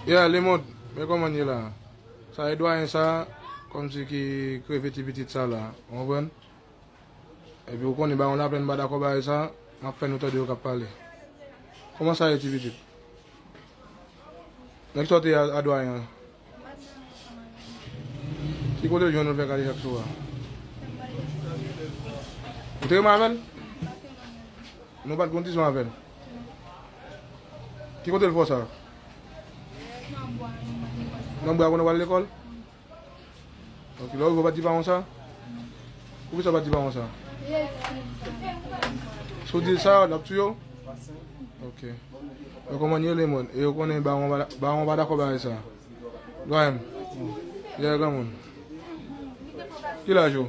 Yeah lemond men koman ye la. Sa e dwayen sa komsi ki kreve ti pitit sa la ou konprann epi ou konnen bay yon lapenn mpa dakò bagay sa map fè nou tande yo kap pale koman sa ye ti pitit nèg sa ou te ye a dwayen an ki kote l jwenn ou l fè kale chak sou a ou te renmen avèl nou pat gen yon ti son avèl. Ki kote l fò sa? Nan bwa konn wal lekòl? Ok, lè ou rive ou pa di paran w sa? Poukisa ou pa di paran w sa? Si w di l sa, l ap touye w? Ok. Yo konprann yo lemond e yo konnen baron pa dakò bagay sa. Dwayen m, dèyè granmoun. Ki laj ou?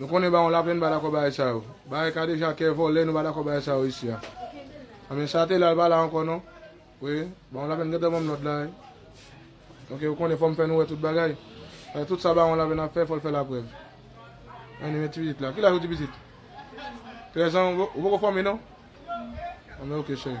Nou konnen baron laplèn pa dakò bagay sa yo. Bagay kadejakè, vòlè nou pa dakò bagay sa yo isi a. Anben sa te la l pa la ankò non. Wi, baron laplèn gentan banm lòd la wi. Ok ou konnen fòm fè nou wè tout bagay. Paske tout sa baron laplèn ap fè fòl fè la prèv. Anben men ti pitit la. Ki laj ou ti pitit? 13 ans ou poko fòme non? Anben ok cheri.